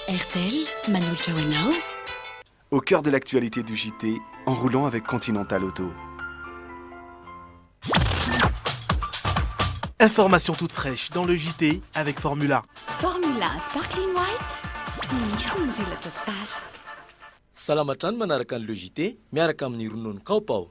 RTL manolotra ho anao. Au cœur de l'actualité du JT, en roulant avec Continental Auto. Information toute fraîche dans le JT avec Formula. Formula Sparkling White. Salama hatrany manaraka ny Le JT miaraka amin'ny ronono Kaopao.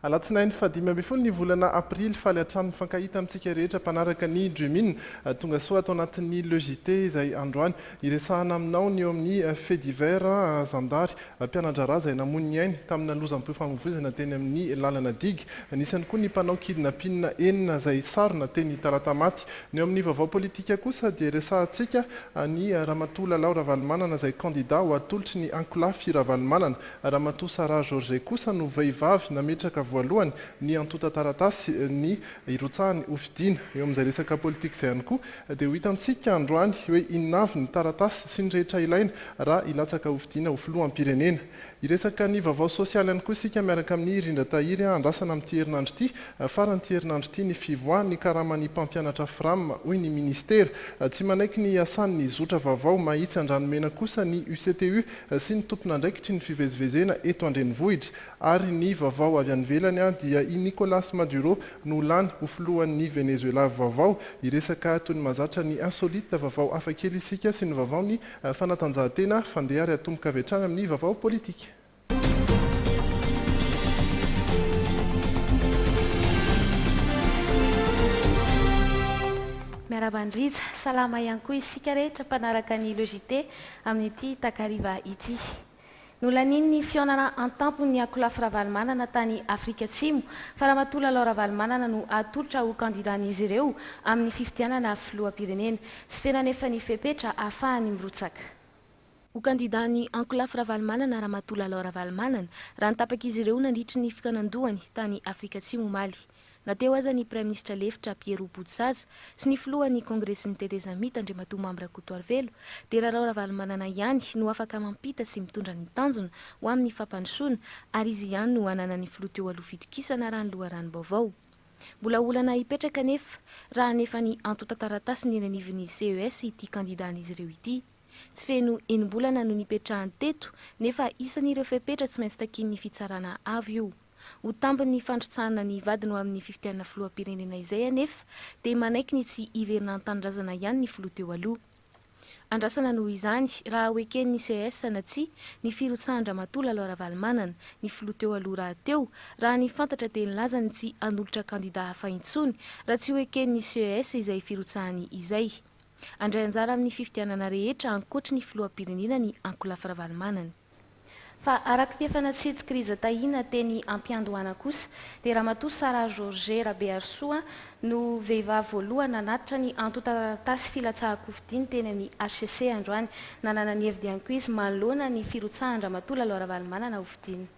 Alatsinainy fahadimy ambin'ny folo ny volana aprily. Faly hatrany mifankahita amintsika rehetra mpanaraka ny Dream In. Tongasoa ato anatin'ny Le JT izay androany. Iresahana aminao ny eo amin'ny Faits divers, Zandary mpiana-draharaha izay namoy ny ainy tamina lozam-pifamoivoizana teny amin'ny lalana digue. Nisy ihany koa ny mpanao kidnapin enina izay sarona teny Talatamaty. Ny eo amin'ny vaovao politika kosa dia resahantsika an'i Ramatoa Lalao Ravalomanana izay kandida ho atolotry ny ankolafy Ravalomanana. Ramatoa Sarah Georget kosa no vehivavy nametraka voalohany ny antontan-taratasy ny hirotsahany hofidiana. Eo amin'izay resaka politika izay ihany koa Dia ho hitantsika androany hoe inona avy ny taratasy sy ny rehetra ilaina raha hilatsaka hofidiana ho filoham-pirenena. Hiresaka ny vaovao sosialy ihany koa isika miaraka amin'i Rindratahiry andrasana amin'ity herinandro ity, faran'ity herinandro ity ny fivoahan'ny karaman'ny mpampianatra Fram hoy ny minisitera. Tsy manaiky ny hiasan'ny zotra vaovao Mahitsy Andranomena kosa ny UCTU sy ny tompon'andraikitry ny fivezivezena eto an-drenivohitra. Ary ny vaovao avy any ivelany dia i Nicolas Maduro no lany ho filohan'ny Venezuela vaovao. Hiresaka toy ny mahazatra ny insolite, vaovao hafakely isika sy ny vaovaon'ny fanatanjahantena. Fandeha ary atomboka avy hatrany amin'ny vaovao politika. Miarahaba an-dRija. Salama ihany koa isika rehetra mpanaraka ny Le JT amin'ity takariva ity. Nolanian'ny fihaonana an-tampon'ny Akolafy Ravalomanana tany Afrika Atsimo fa Ramatoa Lalao Ravalomanana no hatolotra ho kandidan'izy ireo amin'ny fifidianana filoham-pirenena. Tsy feno anefa ny fepetra hahafahany mirotsaka. Ho kandidan'ny Ankolafy Ravalomanana Ramatoa Lalao Ravalomanana raha ny tapak'izy ireo nandritry ny fikaonan-dohany tany Afrika Atsimo omaly. Na teo aza ny Praiminisitra lefitra Pierrot Botosaza sy ny filohan'ny Kongresin'ny Tetezamita Andriamatoa Mamy Rakotoarivelo dia Rarao Ravalomanana ihany no afaka mampita sy mitondra ny tanjona ho amin'ny fampandrosoana ary izy ihany no ananan'ny filoha teo aloha fitokisana raha ny loharanom-baovao. Mbola olana hipetraka anefa raha hanefa ny antontan-taratasiny eny anivon'ny CES ity kandidan'izy ireo ity. Tsy feno enim-bolana no nipetrahany teto nefa isan'ireo fepetra tsy maintsy takian'ny fitsarana avo io. Ho tambin'ny fandrotsahana ny vadiny ho amin'ny fifidianana filoham-pirenena izay anefa dia manaiky ny tsy hiverina an-tanindrazana ihany ny filoha teo aloha. Andrasana noho izany raha ho eken'ny ces na tsia ny firotsahan-dRamatoa Lalo Ravalomanana, ny filoha teo aloha rahateo, raha ny fantatra dia nilaza ny tsy hanolotra kandida hafa intsony raha tsy ho eken'ny ces izay firotsahany izay. Handray anjara amin'ny fifidianana rehetra ankoatry ny filoham-pirenena ny ankolafy Ravalomanana. Fa araka ny efa natsidik'i Rija Tahina teny am-piandohana kosa dia Ramatoa Sarah Georget Rabeharisoa no vehivavy voalohany nanatitra ny antontan-taratasy filatsahan-kofidiny teny amin'ny hcc androany, nanana ny hevi-diankoizy manoloana ny firotsahan-dRamatoa Lalo Ravalomanana hofidina.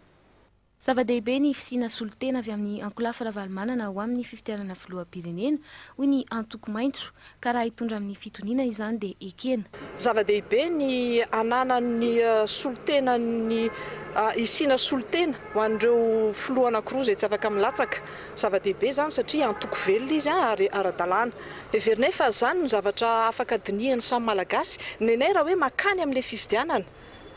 Zava-dehibe ny fisiana solontena avy amin'i Ankolafy Ravalomanana ho amin'ny fifidianana filoham-pirenena, hoy ny antoko maitso, ka raha hitondra amin'ny fitoniana izany dia ekena. Zava-dehibe ny ananan'ny solontena ny hisiana solontena ho an'ireo filoha anankiroa izay tsy afaka milatsaka. Zava-dehibe izany satria antoko velona izy ary ara-dalàna. Heverinay fa izany no zavatra afaka dinihan'ny samy Malagasy. Ny anay raha hoe makany amin'ilay fifidianana,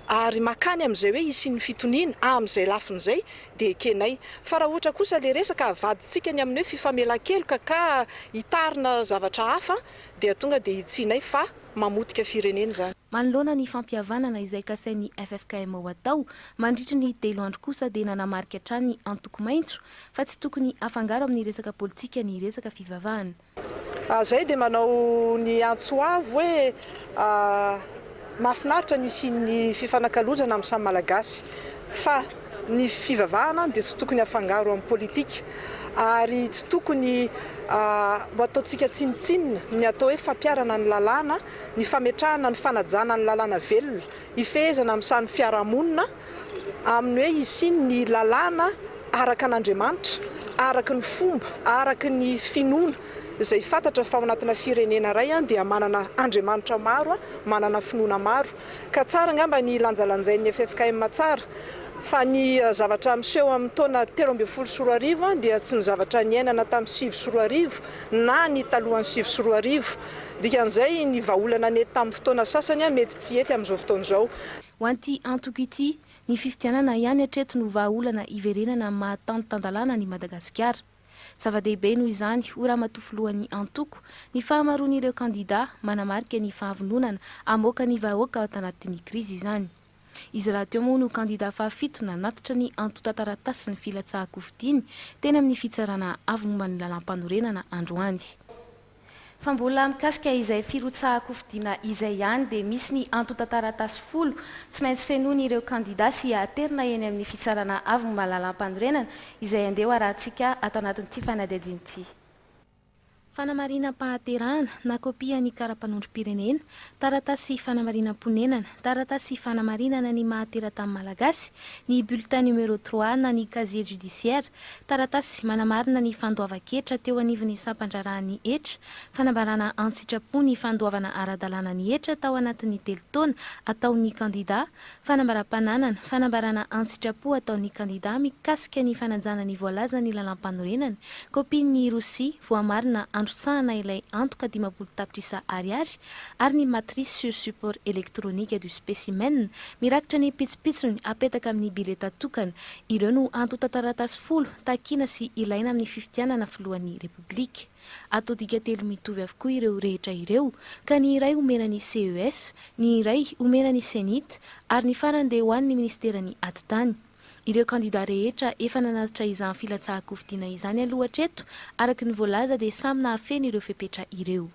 ary makany amin'izay hoe hisian'ny fitoniana, amin'izay lafiny izay dia ekenay. Fa raha ohatra kosa ilay resaka avadintsika ny amin'ny hoe fifamelan-keloka ka hitarina zavatra hafa dia tonga dia hitsihinay fa mamotika firenena izany. Manoloana ny fampihavanana izay kasain'ny ffkm ho atao mandritry ny telo andro kosa dia nanamarika hatrany ny antoko maitso fa tsy tokony afangaro amin'ny resaka politika ny resaka fivavahana. Zay dia manao ny antso avo hoe mahafinaritra ny hisian'ny fifanakalozana amin'ny samy Malagasy fa ny fivavahana dia tsy tokony afangaro amin'ny politika ary tsy tokony ho ataontsika tsinontsinona ny atao hoe fampiharana ny lalàna, ny fametrahana ny fanajana ny lalàna velona, hifehezana amin'ny sarin'ny fiarahamonina. amin'ny hoe hisiany ny lalàna araka an'Andriamanitra, araka ny fomba, araka ny finoana, izay fantatra fa ao anatina firenena iray dia manana Andriamanitra maro, manana finoana maro. Ka tsara angamba ny hilanjalanjain'ny ffkm tsara fa ny zavatra miseho amin'ny taona telo ambin'ny folo sy roa arivo dia tsy ny zavatra niainana tamin'ny sivy sy roa arivo na ny talohan'ny sivy sy roa arivo. Dikan'izay ny vahaolana nety tamin'ny fotoana sasany mety tsy hety amin'izao fotoana izao. Ho an'ity antoko ity, ny fifidianana ihany hatreto no vahaolana hiverenana amin'ny maha tany tan-dalàna an'i Madagasikara. Zava-dehibe noho izany, hoy Ramatoa Filohan'ny antoko, ny fahamaroan'ireo kandidà, manamarika ny fahavononana hamoaka ny vahoaka ato anatin'ny krizy izany. Izy rahateo moa no kandidà fahafito nanatitra ny antontan-taratasin'ny filatsahan-kofidiany teny amin'ny Fitsarana Avo momba ny Lalàmpanorenana androany. Fa mbola mikasika izay firotsahan-kofidina izay ihany dia misy ny antontan-taratasy folo tsy maintsy fenoin' ireo kandida sy aterina eny amin'ny fitsarana avy ny malalampanorenana izay andeha ho arahantsika ato anatin'ity fanadihadiana ity. Fanamarinam-pahaterahana na kopia ny kara-panondrom-pirenena Taratasy fanamarinam-ponenana, taratasy fanamarinana ny maha teratany malagasy, ny bulletin numéro trois na ny casier judiciaire, taratasy manamarina ny fandoavan-ketra teo anivon'ny sampan-draharahan'ny hetra, fanambarana an-tsitrapo ny fandoavana ara-dalàna ny hetra tao anatin'ny telo taona ataon'ny kandidà, Fanambaram-pananana, fanambarana an-tsitrapo ataon'ny kandidà mikasika ny fanajana ny voalazan'ny lalàmpanorenany, kopian'ny ROSI voamarina androtsahana ilay antoka dimampolo tapitrisa Ariary ary ny matrice sur support électronique du spécimen mirakitra ny pitsopitsony apetaka amin'ny bileta tokana, ireo no antontan-taratasy folo takina sy ilaina amin'ny fifidianana Filohan'ny Repoblika. Atodika telo mitovy avokoa ireo rehetra ireo ka ny iray omena ny CES, ny iray omena ny Cenit ary ny farany dia ho an'ny Ministeran'ny Atitany. Ireo kandida rehetra efa nanatitra izany filatsahan-kofidiana izany aloha hatreto, araka ny voalaza dia samy nahafeno ireo fepetra ireo.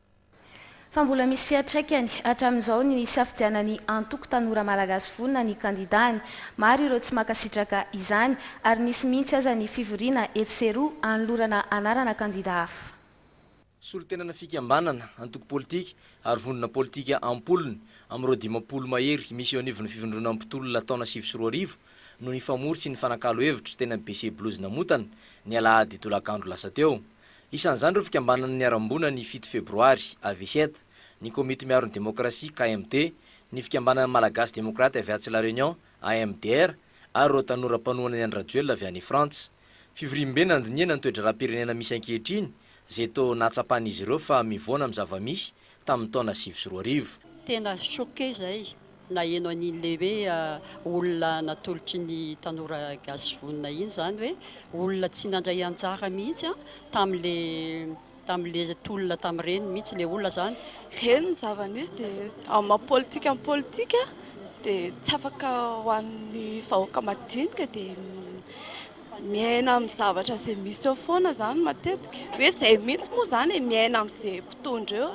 Fa mbola misy fiantraikany hatramin'izao ny hisafidianan'ny antoko Tanora Malagasy Vonona ny kandidàny. Maro ireo tsy mankasitraka izany, ary nisy mihitsy aza ny fivoriana etsy sy eroa hanolorana anarana kandidà hafa. Solontenana fikambanana, antoko politika, ary vondrona politika am-polony, amin'ireo dimampolo mahery misy eo anivon'ny fivondronan'ny mpitolona taona sivy sy roa arivo, no nifamory sy nifanakalo hevitra teny amin'ny BC Blues Namotana, ny alahady tolakandro lasa teo. Isan'izany ireo fikambanana niharam-boina ny fito febroary, AVCED, ny Komity Miaro ny Demokrasia, KMD, ny Fikambanana Malagasy Demokraty avy atsy La Réunion, AMDR, ary ireo tanora mpanohana ny an-dRajoelina avy any Frantsa. Fivoriambe nandinihana ny toe-draharaham-pirenena misy ankehitriny, izay toa nahatsapan'izy ireo fa mivoana amin'ny zava-misy tamin'ny taona sivy sy roa arivo. Tena choqué zay naheno an'in'le hoe olona natolotry ny tanora gasy vonona iny zany hoe olona tsy nandray anjara mihitsy an tamin'le tamin'le tolona tamin'ireny mihitsy le olona zany. Reny ny zava nisy de amin'ny maha politika ny politika de tsy afaka ho an'ny vahoaka madinika de. Miaina amin'ny zavatra izay misy eo foana izany matetika. Hoe izay mihitsy moa izany e, miaina amin'izay mpitondra eo.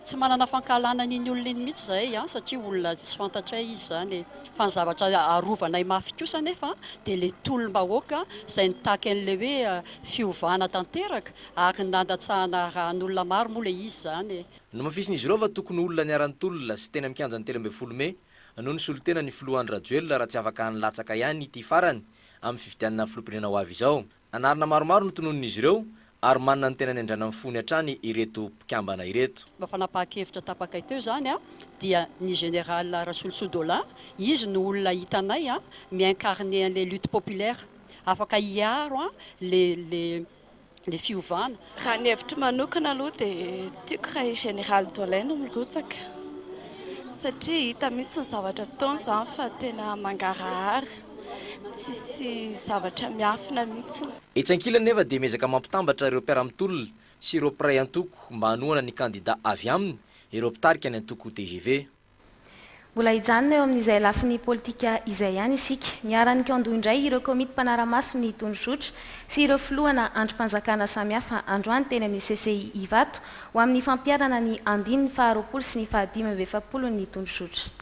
Tsy manana fankahalana an'iny olona iny mihitsy izahay an, satria olona tsy fantatray izy izany e. Fa ny zavatra arovanay mafy kosa anefa dia ilay tolom-bahoaka izay nitaky an'ilay hoe fiovana tanteraka ary nandatsahana ra an'olona maro moa ilay izy izany e. Nomafisin'izy ireo fa tokony ho olona niara-nitolona sy teny amin'ny kianjan'ny telo ambin'ny folo mey no nisolo tena ny filoha Andry Rajoelina raha tsy afaka nilatsaka ihany ity farany amin'ny fifidianana filoham-pirenena ho avy izao. Anarana maromaro no tononin'izy ireo ary manana ny tena niandranan'ny fony hatrany ireto mpikambana ireto. Mba fanapahan-kevitra tapakay teo izany dia ny Général Rasolosoa Dolin, izy no olona hitanay mi-incarner an'ilay lutte populaire, afaka hiaro ilay ny fiovana. Raha ny hevitro manokana aloha dia tiako raha i Général Dolay no mirotsaka satria hita mihitsy ny zavatra ataony izany fa tena mangarahara, tsisy zavatra miafina mihitsy. Etsy ankilany nefa dia miezaka mampitambatra ireo mpiara-mitolona sy ireo mpiray antoko mba hanohana ny kandida avy aminy ireo mpitarika ny antoko tgv. Mbola hijanona eo amin'izay lafiny politika izay ihany isika. Niharan'ny Kando indray ireo komity mpanara-maso ny tondrozotra sy ireo filohana andrim-panjakana samihafa androany teny amin'ny CCI Ivato ho amin'ny fampiharana ny andininy faharoapolo sy ny fahadimy amby efapolon'ny tondrozotra.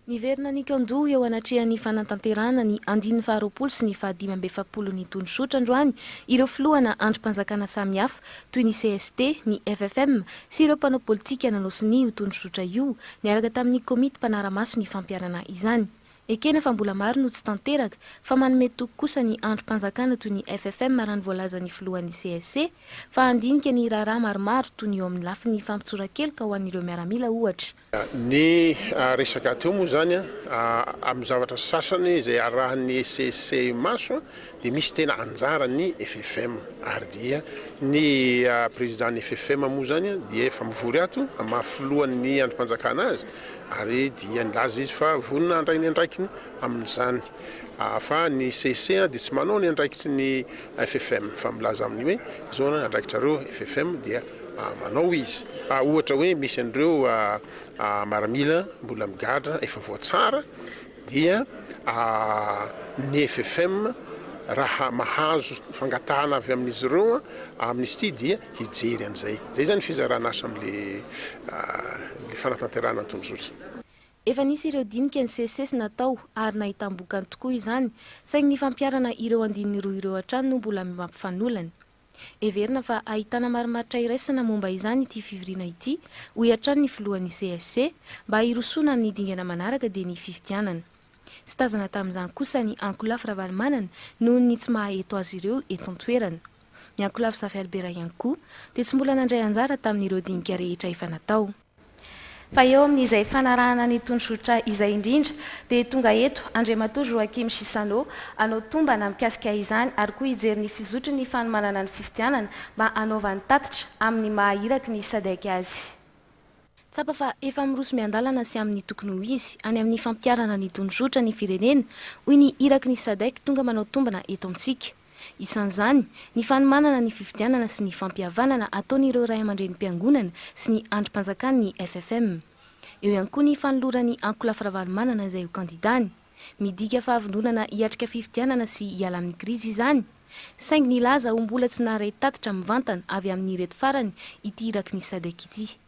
Niverina ny Kando eo anatrehan'ny fanatanterahana ny andininy faharoapolo sy ny fahadimy amby efapolon'ny tondrozotra androany ireo filohana andrim-panjakana samihafa. toy ny cst, ny FFM sy ireo mpanao politika nanao sonia io tondrozotra io niaraka tamin'ny komity mpanara-maso ny fampiharana izany. Ekena fa mbola maro no tsy tanteraka fa manome toky kosa ny andrim-panjakana toy ny FFM raha ny voalazan'ny filohan'ny cst fa handinika ny raharaha maromaro toy ny eo amin'ny lafiny fampitsoran-keloka ho an'ireo miaramila ohatra. Ny resaka teo moa izany amin'ny zavatra sasany izay arahin'ny ECC maso dia misy tena anjaran'ny FFM ary dia ny prezidàn'ny FFM moa izany dia efa mivory ato maha filohan'ny andrimpanjakana azy ary dia nilaza izy fa vonona handray ny andraikiny amin'izany fa ny CEC dia tsy manao ny andraikitry ny FFM fa milaza amin'ny hoe izao ny andraikitrareo FFM dia manao izy. Ohatra hoe misy an'ireo maramila mbola migadra efa voatsara dia ny FFM raha mahazo fangatahana avy amin'izy ireo amnistie dia hijery an'izay. Izay izany fizaran'asa amin'ilay fanatanterahana ny tondrozotra. Efa nisy ireo dinika nisesisesy natao ary nahitam-bokany tokoa izany, saingy ny fampiharana ireo andininy roa ireo hatrany no mbola mampifanolana. Heverina fa ahitana marimaritra iraisana momba izany ity fivoriana ity, hoy hatrany ny filohan'ny CSC, mba hirosoana amin'ny dingana manaraka dia ny fifidianana. Tsy tazana tamin'izany kosa ny ankolafy Ravalomanana noho ny tsy maha eto azy ireo eto an-toerana. Ny ankolafy Zafy Albert ihany koa dia tsy mbola nandray anjara tamin'ireo dinika rehetra efa natao. Fa eo amin'izay fanarahana ny tondrozotra izay indrindra dia tonga eto Andriamatoa Joachim Chissano hanao tombana mikasika izany ary koa hijery ny fizotry ny fanomanana ny fifidianana mba hanaovany tatitra amin'ny maha iraky ny Sadec azy. Tsapa fa efa miroso miandalana sy amin'ny tokony ho izy any amin'ny fampiharana ny tondrozotra ny firenena, hoy ny iraky ny Sadec tonga manao tombana eto amintsika. isan'izany ny fanomanana ny fifidianana sy ny fampihavanana ataon'ireo raiamandreny mpiangonana sy ny andrim-panjakan'ny FFM. Eo ihany koa ny fanoloran'i Ankolafy Ravalomanana izay ho kandidany. Midika fahavononana hiatrika fifidianana sy hiala amin'ny krizy izany, saingy nilaza ho mbola tsy naharay tatitra mivantana avy amin'ireto farany ity iraky ny Sadec ity.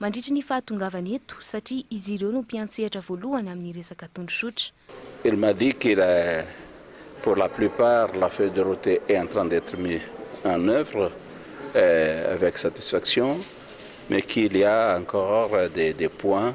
mandritry ny fahatongavany eto satria izy ireo no mpiantsehatra voalohany amin'ny resaka tondrozotra. Il m'a dit qu'il est pour la plupart la feuille de route est en train d'etre mis en oeuvre avec satisfaction mais qu'il y a encore des points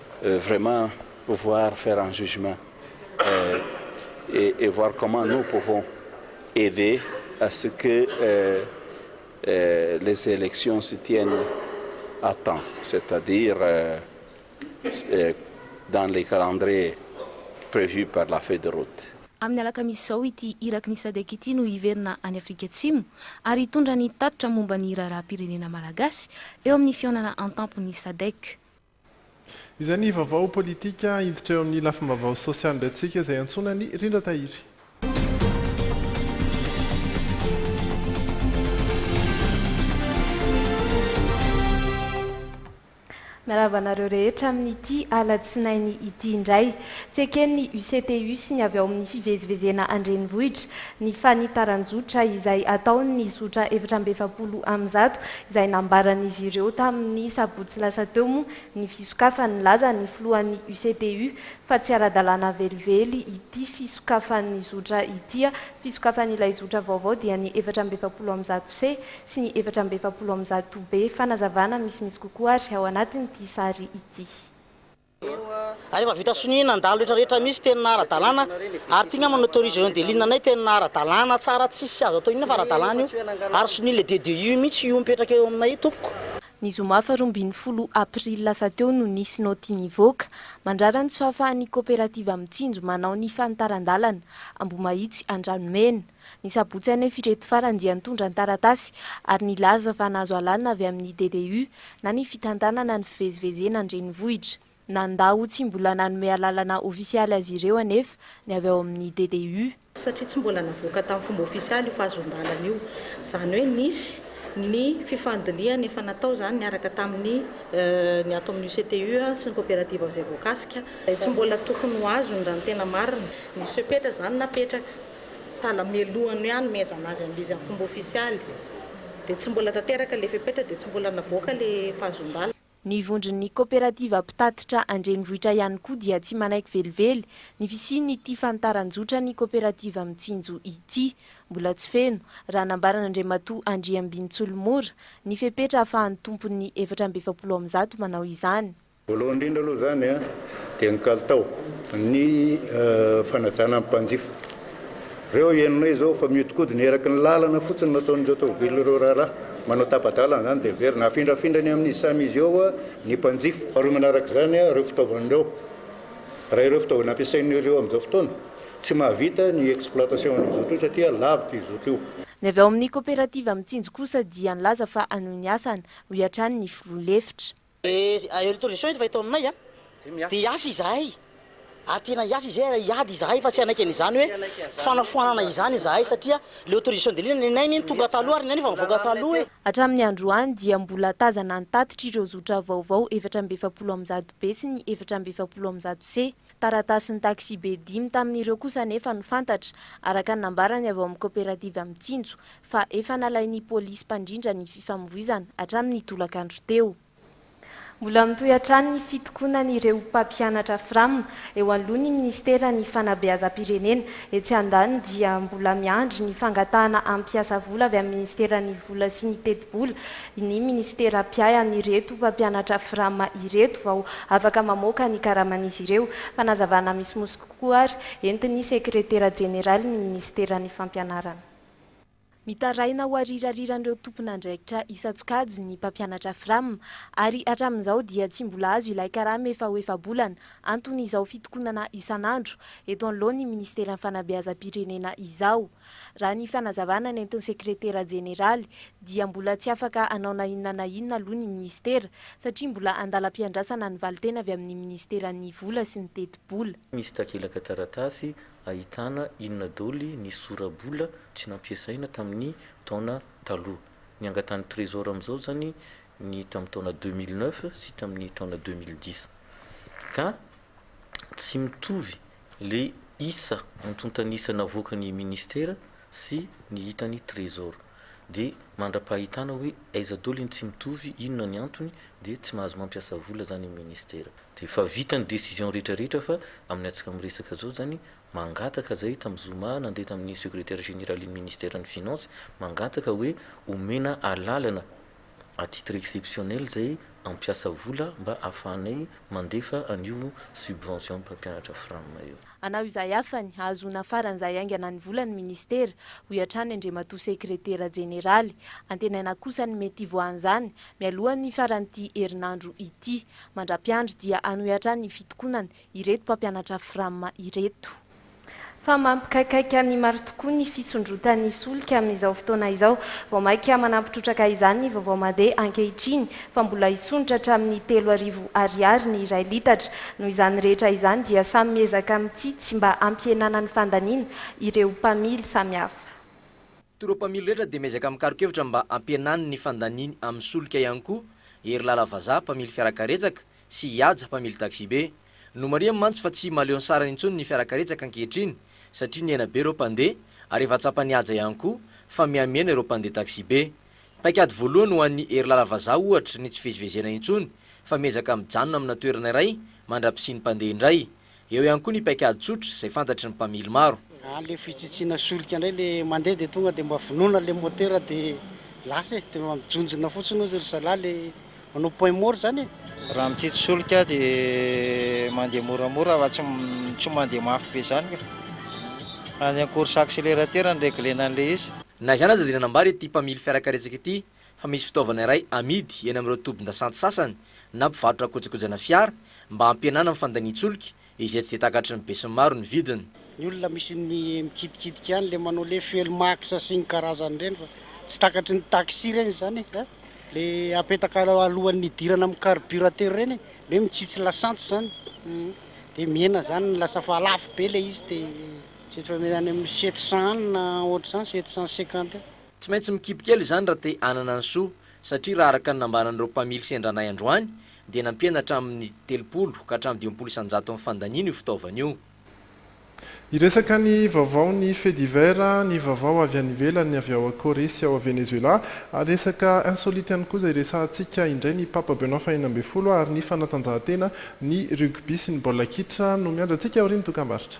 vraiment voir faire un jugement et voir comment nous pouvons aider à ce que les elections se tiennent à temps c'est à dire dans les calendriers prevus par la feuille de route. Amin'ny alakamisy izao ity iraky ny Sadec ity no hiverina any Afrika Atsimo ary hitondra ny tatitra momba ny raharaham-pirenena malagasy eo amin'ny fihaonana an-tampon'ny Sadec. Izay ny vaovao politika. Hiditra eo amin'ny lafim-baovao sosialy indray tsika izay iantsoana an'i Rindra Tahiry. Miarahaba anareo rehetra amin'ity alatsinainy ity indray. Tsy eken'ny UCTU sy ny avy ao amin'ny fivezivezena an-drenivohitra ny fanitaran-jotra izay ataon'ny zotra efatra amby efapolo amin'ny zato izay nambaran'izy ireo tamin'ny sabotsy lasa teo moa ny fisokafan'ny laza ny filohan'ny UCPU fa tsy ara-dalàna velively ity fisokafan'ny zotra ity, fisokafan'ilay zotra vaovao dia ny efatra amby efapolo amby zato C sy ny efatra amby efapolo amby zato B. Fanazavana misimisy kokoa ary ao anatin'ity sary ity. ary efa vita sonia nandalo rehetra rehetra misy teny na aradalana ary ty ngamba n'autoriser eo delina anay teny na aradalana tsara tsisy azo atao inona fa aradalana io ary sonia le DDI io mitsy io mipetraka eo aminay io tompoko. Ny zoma faharoa ambin'ny folo aprily lasa teo no nisy naoty nivoaka, mandrara ny tsy fahafahan'ny koperativa Mitsinjo manao ny fanitaran-dalana, Ambohimahitsy Andranomena. Ny sabotsy anefa ireto farany dia nitondra ny taratasy ary nilaza fa nahazo alalana avy amin'ny DDU na ny fitantanana ny fivezivezena an-drenivohitra. Nandà ho tsy mbola nanome alalana ofisialy azy ireo anefa ny avy ao amin'ny DDU. Satria tsy mbola navoaka tamin'ny fomba ofisialy io fahazoan-dalana io. Izany hoe nisy ny fifandinihana efa natao izany niaraka tamin'ny ny ato amin'ny UCTU sy ny koperativa izay voakasika. Izay tsy mbola tokony ho azony raha ny tena marina. Nisy fepetra izany napetraka. tala mialoha ny hanomezana azy an'ilay izy amin'ny fomba ofisialy dia tsy mbola tanteraka ilay fepetra dia tsy mbola navoaka ilay fahazondala. Ny vondron'ny koperativa mpitatitra an-drenivohitra ihany koa dia tsy manaiky velively ny fisian'ity fanitaran-jotran'ny koperativa mitsinjo ity. Mbola tsy feno, raha nambaran'Andriamatoa Andriambinintsolomora, ny fepetra ahafahan'ny tompon'ny efatra amby efapolo amin'ny zato manao izany. Voalohany indrindra aloha izany dia ny kalitao, ny fanajana ny mpanjifa. Ireo henonay izao fa mihodinkodina eraky ny lalana fotsiny no ataon'ireo tômôbily ireo raharaha. Manao tapa-dalana izany dia very. Nafindrafindrany amin'izy samy izy eo ny mpanjifa. Faharoa manaraka izany ireo fitaovana ireo. Raha ireo fitaovana ampiasain'ireo amin'izao fotoana, tsy mahavita ny exploitation an'io zotra io satria lavitra io zotra io. Ny avy ao amin'ny koperativa Mitsinjo kosa dia nilaza fa hanohy ny asany, hoy hatrany ny filoha lefitra. Dia air torrition eto fa eto aminay dia hiasa izahay ary tena hiasa izahay ary hiady izahay fa tsy hanaiky an'izany hoe fanafoanana izany izahay satria ilay autorisation de ligne nenay anie tonga taloha ary ny anay efa nivoaka taloha e. Hatramin'ny androany dia mbola tazana ny tatitra ireo zotra vaovao efatra amby efapolo amin'ny zato B sy ny efatra amby efapolo amin'ny zato C. Taratasin'ny taxibe dimy tamin'ireo kosa anefa no fantatra, araka ny nambarany avy ao amin'ny kaoperativa Mitsinjo, fa efa nalain'ny polisy mpandrindra ny fifamovoizana hatramin'ny tolakandro teo. Mbola mitohy hatrany ny fitokonan'ireo mpampianatra Fram eo alohan'ny minisiteran'ny fanabeazam-pirenena. Etsy andaniny dia mbola miandry ny fangatahana hampiasa vola avy amin'ny minisiteran'ny vola sy ny tetibola ny minisitera mpiahy an'ireto mpampianatra Fram ireto vao afaka mamoaka ny karaman'izy ireo. Fanazavana misimisy kokoa ary, entin'ny sekretera jeneralin'ny minisiteran'ny Fampianarana. Mitaraina ho arirariran'ireo tompon'andraikitra isan-tsokajy ny mpampianatra Fram ary hatramin'izao dia tsy mbola azo ilay karama efa ho efa-bolana anton'izao fitokonana isan'andro eto anoloan'ny minisiteran'ny Fanabeazam-pirenena izao. Raha ny fanazavana nentin'ny sekretera jeneraly dia mbola tsy afaka hanao na inona na inona aloha ny minisitera satria mbola andalam-piandrasana ny valintena avy amin'ny minisiteran'ny vola sy ny tetibola. Misy takelaka taratasy ahitana inona doly ny sora-bola tsy nampiasaina tamin'ny taona taloha. Ny angatan'ny trésor amin'izao izany ny tamin'ny taona deux mille neuf sy tamin'ny taona deux mille dix ka tsy mitovy. Ilay isa antontan'isa navoakan'ny Ministera sy ny hitan'ny Trésor. Dia mandra-pahitana hoe aiza daholo iny tsy mitovy, inona ny antony, dia tsy mahazo mampiasa vola zany ny Ministera. Dia efa vita ny décision rehetra rehetra fa amin'ny antsika miresaka zao zany, mangataka zay tamin'ny zoma nandeha tamin'ny Secrétaire Généralin'ny Ministère ny Finances, mangataka hoe omena alalana à titre exceptionnel izay hampiasa vola mba hahafahanay mandefa an'io subvention mpampianatra fram io. Anao izay hafany hahazoana faran'izay haingana ny vola ny Ministera, hoy hatrany Andriamatoa Sekretera Jeneraly. Antenaina kosa ny mety hivoahan'izany mialohan'ny faran'ity herinandro ity. Mandra-piandry dia hanohy hatrany ny fitokonana ireto mpampianatra fram ireto. Fa mampikaikaika ny maro tokoa ny fisondrotan'ny solika amin'izao fotoana izao. Vao mainka manampy trotraka izany ny vaovao made ankehitriny fa mbola hisondrotra hatramin'ny telo arivo Ariary ny iray litatra. Noho izany rehetra izany dia samy miezaka mitsitsy mba hampihenana ny fandaniana ireo mpamily samihafa. Toa ireo mpamily rehetra dia miezaka mikaron-kevitra mba hampihenany ny fandaniany amin'ny solika ihany koa Herilala Vazaha, mpamily fiarakaretsaka, sy i Haja mpamily taxibe. Nomarihany mantsy fa tsy mahaleo ny sarany intsony ny fiarakaretsaka ankehitriny satria nihena be ireo mpandeha ary efa tsapan'i Haja ihany koa fa mihamihena ireo mpandeha taxibe. Paikady voalohany ho an'i Herilala vazaha ohatra ny tsy fivezivezena intsony fa miezaka mijanona amina toerana iray mandra-pisian'ny mpandeha indray. Eo ihany koa ny paikady tsotra izay fantatry ny mpamily maro. Any le fitsitsiana solika ndray le mandeha de tonga de mba vonoina le motera de lasa e, de mijonjona fotsiny ozy ry zalahy le manao point mort zany e. Raha mitsitsy solika de mandeha moramora fa tsy tsy mandeha mafy be zany ka. Any an course accélérateur no reglena anle izy. Na izany aza dia nanambara ity mpamily fiarakaretsaka ity fa misy fitaovana iray amidy eny amin'ireo tobin-dasantsy sasany na mpivarotra kojakojana fiara mba hampihenana ny fandanian-tsolika izay tsy dia takatry ny besinimaro ny vidiny. Ny olona misy ny mikitikitika ihany le manao le fuel max sy ny karazany ireny fa tsy takatry ny taxi ireny izany e! a! le apetaka alohan'ny hidirana amin'ny carburateur ireny hoe mitsitsy lasantsy izany dia mihena izany lasa fa lafo be ilay izy dia tsy eto fa mety any amin'ny sept cent any na ohatr'izany sept cent cinquante eo. Tsy maintsy mikipy kely izany raha te hanana ny soa, satria raha araka ny nambaran'ireo mpamily sendranay androany dia nampiana hatramin'ny telopolo ka hatramin'ny dimampolo isan-jaton'ny fandaniana io fitaovana io. Hiresaka ny vaovaon'ny faits divers, ny vaovao avy any ivelany, ny avy ao Corée sy ao Venezuela, ary resaka insolite ihany koa izay hiresahantsika indray, ny Papa Benoît faheenina ambin'ny folo ary ny fanatanjahantena, ny rugby sy ny baolina kitra no miandry antsika aorian'ny dokambarotra.